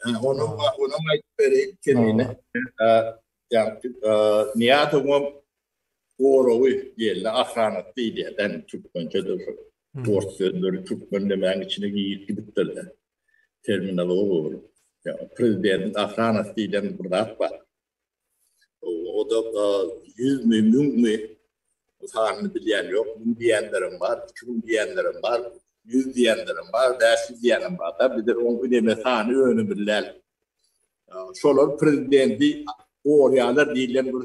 Onuň onuň aýdyp bereýin kemini. Ýagty Niýazowyň gorawy diýildi, ahranat diýilýär, den türkmençe de şu. Ors sözleri türkmen demäň içine girip gidipdir. Terminologiýa bolup. Ýa prezidentiň ahranasy diýlen bir zat bar. O da ýüz mi, müň mi sanyny bilýän ýok. Müň diýenlerem bar, iki müň diýenlerem bar, ýüz diýenlerem bar, bäş ýüz diýenem bar-da. Bizde oň üneme sany önemli däl. Şolar prezidenti gorýarlar diýlen bir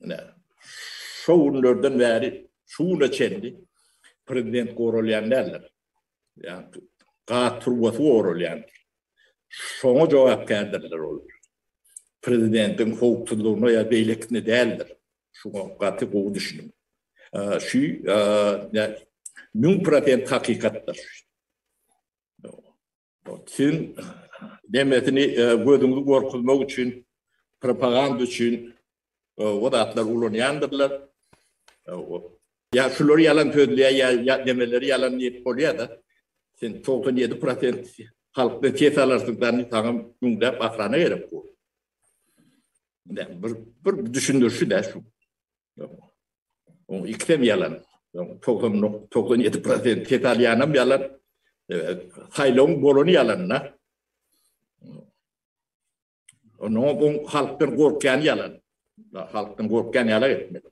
Ine, şo günlerden bäri şu güne çenli prezident goralýan däldir. Ýa-da gaz turbasy goralýandyr. Şoňa jogapkärdirler olar. Prezidentiň howpsuzlygyna ýa beýlekisine däldir. Şuňa gaty gowy düşüniň. Şu müň prosent hakykatdyr. Siziň demesini gözüňizi gorkuzmak üçin, propaganda üçin o zatlar ulanýandyrlar. Ýa şular ýalan sözleýär, ýa demeleri ýalan diýip bolýar-da. Sen 97% halkdan ses alarsyňdan saňa müňläp ahrana gerek bor. Bir düşündirişi-dä şu. Oň ikisem ýalan. 90-97% ses alýanam ýalan. Saýlawyň bolany ýalan-da. Onuň bu halkdan gorkýany ýalan. Halkdan gorkýan ýaly etmeli.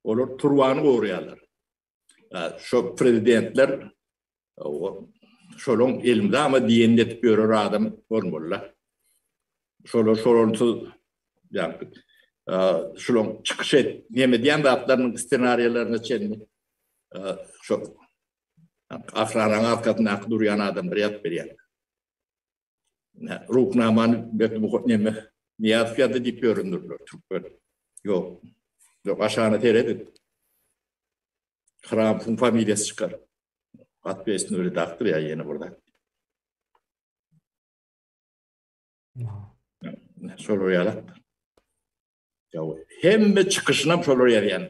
Olar turbany goraýarlar. Şo prezidentler şolaryň elmydama diýenini edip ýörer adam bolmalylar. Şolar şolarsyz ýagny şolaryň çykyş et, neme diýen zatlarynyň ssenariýalaryna çenli şo ahranyň arkasyndaky durýan adamlar ýazyp berýärler. Ruhnamany berdi bu neme Niýazow ýazdy diýip ýörendirler türkmen. Ýok. Ýok, aşagyna seredin. Hramowyň familiýasy çykar. Atbeýsini öli dakdyr ýa ýene bir zat. Şolar ýalak. Ýa hemme çykyşyna şolar ýazýan.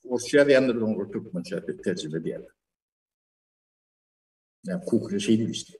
Orsça ýazýandyr oňa türkmençe terjime edýär. Ýa kukre şeýle işte.